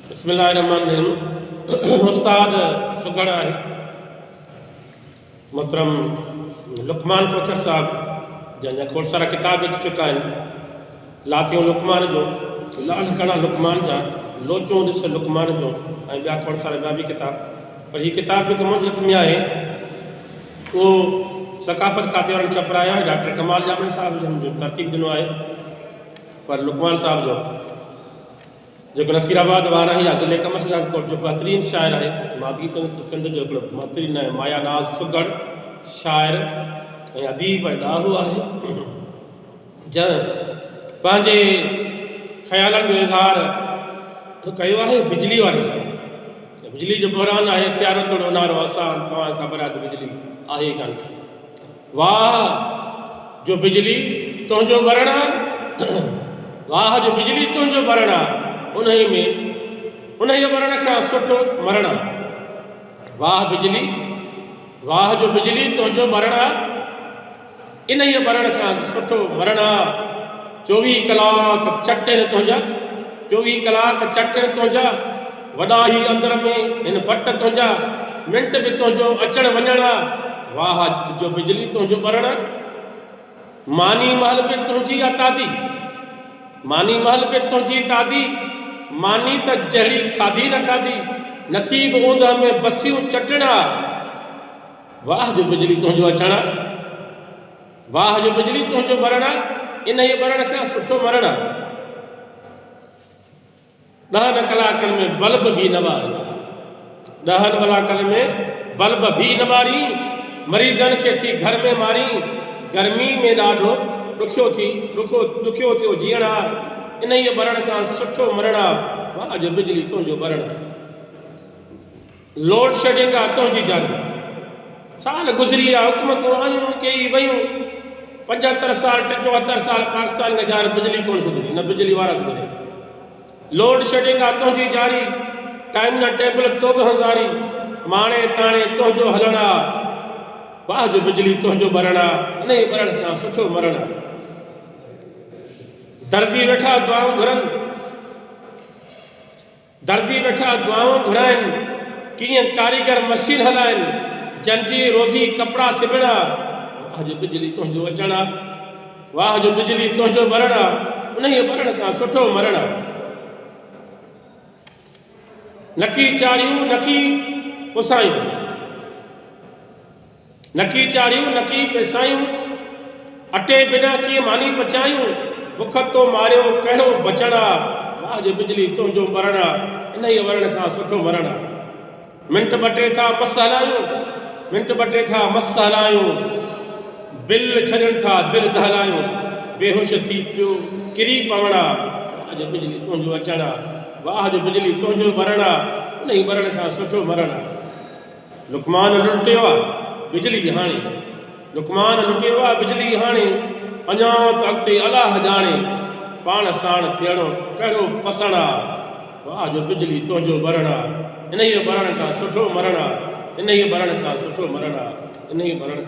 بسم الله الرحمن الرحيم استاد سگهڙ آهي محترم لقمان کوکر صاحب جن جا کوڙ سارا ڪتاب اچي چڪا آهن لاتيون لقمان جو لال ڪڻا لقمان جا لوچون ڏس لقمان جو ۽ ٻيا کوڙ سارا ٻيا به ڪتاب پر هي ڪتاب جيڪو منهنجي هٿ ۾ آهي اهو ثقافت کاتي وارن ڇپرايو آهي ڊاڪٽر ڪمال جامڻي صاحب جن جو ترتيب ڏنو آهي پر لقمان صاحب جو جيڪو نصير آباد وارهه يا ضلعي قمر شهزاد ڪوٽ جو بهترين شاعر آهي. ماڌوي پنت سنڌ جو هڪڙو بهترين ۽ مايا ناز سگهڙ شاعر ۽ اديب ۽ ڏاهو آهي، جنهن پنهنجي خيالن جو اظهار ڪيو آهي بجلي واري سان ته بجلي جو بحران آهي سيارو توڙي اونهارو آسان توهان کي خبر آهي ته بجلي آهي ئي ڪانه ڪا. واهه جو بجلي تنهنجو ٻرڻ آ واهه جو بجلي تنهنجو ٻرڻ آ انهيء ۾ انهيء ٻرڻ کان سٺو مرڻ آ واهه بجلي واهه جو بجلي تنهنجو ٻرڻ آ انهيء ٻرڻ کان سٺو مرڻ آ چوويهه ڪلاڪ چٽن تنهنجا، چوويهه ڪلاڪ چٽن تنهنجا، وڏا هي اندر ۾ هن فٽ تنهنجا، منٽ به تنهنجو اچڻ وڃڻ آ، واهه جو بجلي تنهنجو ٻرڻ آ، ماني مهل به تنهنجي آ تادي، ماني مهل به تنهنجي تادي، ماني ته جهڙي کاڌي نه کاڌي، نصيب اوندهه ۾ بسيون چٽڻ آ، واهه جو بجلي تنهنجو اچڻ آ. واهه جو بجلي تنهنجو ٻرڻ آ، انهيء ٻرڻ کان سٺو مرڻ آ. ڏهن ڪلاڪن ۾ بلب ڀي نه ٻارين. ڏهن ڪلاڪن ۾ بلب ڀي نه ٻارين. مريضن کي ٿي گهر ۾ مارين. گرمي ۾ ڏاڍو ڏکيو ٿي ڏکو ڏکيو ٿيو جيئڻ آ، انهيء ٻرڻ کان سٺو مرڻ آ. واهه جو بجلي تنهنجو ٻرڻ آ. لوڊ شيڊنگ آ تنهنجي جاني. سال گذري ويا حڪومتون آيون ڪيئي ويون پنجهتر سال ٽيهتر سال پاڪستان کي جاري بجلي ڪونه سڌري نه بجلي وارا سڌريا لوڊ شيڊنگ آ تنهنجي جاري ٽائيم نه ٽيبل تو به هنزاري ماڻي تاڻي تنهنجو هلڻ آ واهه جو بجلي تنهنجو ٻرڻ آ انهي ٻرڻ کان سٺو مرڻ آ درزي ويٺا دعائون گهرن. درزي ويٺا دعائون گهرائن، ڪيئن ڪاريگر مشين هلائن، جن جي روزي ڪپڙا سبڻ آ، واهه جو بجلي تنهنجو اچڻ آ، واهه جو بجلي تنهنجو ٻرڻ آ، انهيء ٻرڻ کان سٺو مرڻ آ. نڪي چاڙهيون نڪي پسايون. نڪي چاڙهيون نڪي پيسايون، اٽي بنا ڪيئن ماني پچايون، بک تو ماريو ڪهڙو بچڻ آ، واهه جو بجلي تنهنجو مرڻ آ، انهيء مرڻ کان سٺو مرڻ آ. منٽ ٻه ٽي ٿا مس هلايون، منٽ ٻه ٽي ٿا مس هلايون، بل ڇڏڻ ٿا دل دهلايون، بيهوش ٿي پيو ڪري پوڻ آ، واهه جو بجلي تنهنجو اچڻ آ، واهه جو بجلي تنهنجو مرڻ آ، انهيء مرڻ کان سٺو مرڻ آ. لقمان لٽيو آ بجلي هاڻي لقمان لٽيو آ بجلي هاڻي اڃا ته اڳتي الله ڄاڻي پاڻ ساڻ ٿيڻو ڪهڙو پسڻ آ واه جو بجلي تنهنجو ٻرڻ آ انهيء ٻرڻ کان سٺو مرڻ آ انهيء ٻرڻ کان سٺو مرڻ آ انهيء ٻرڻ کان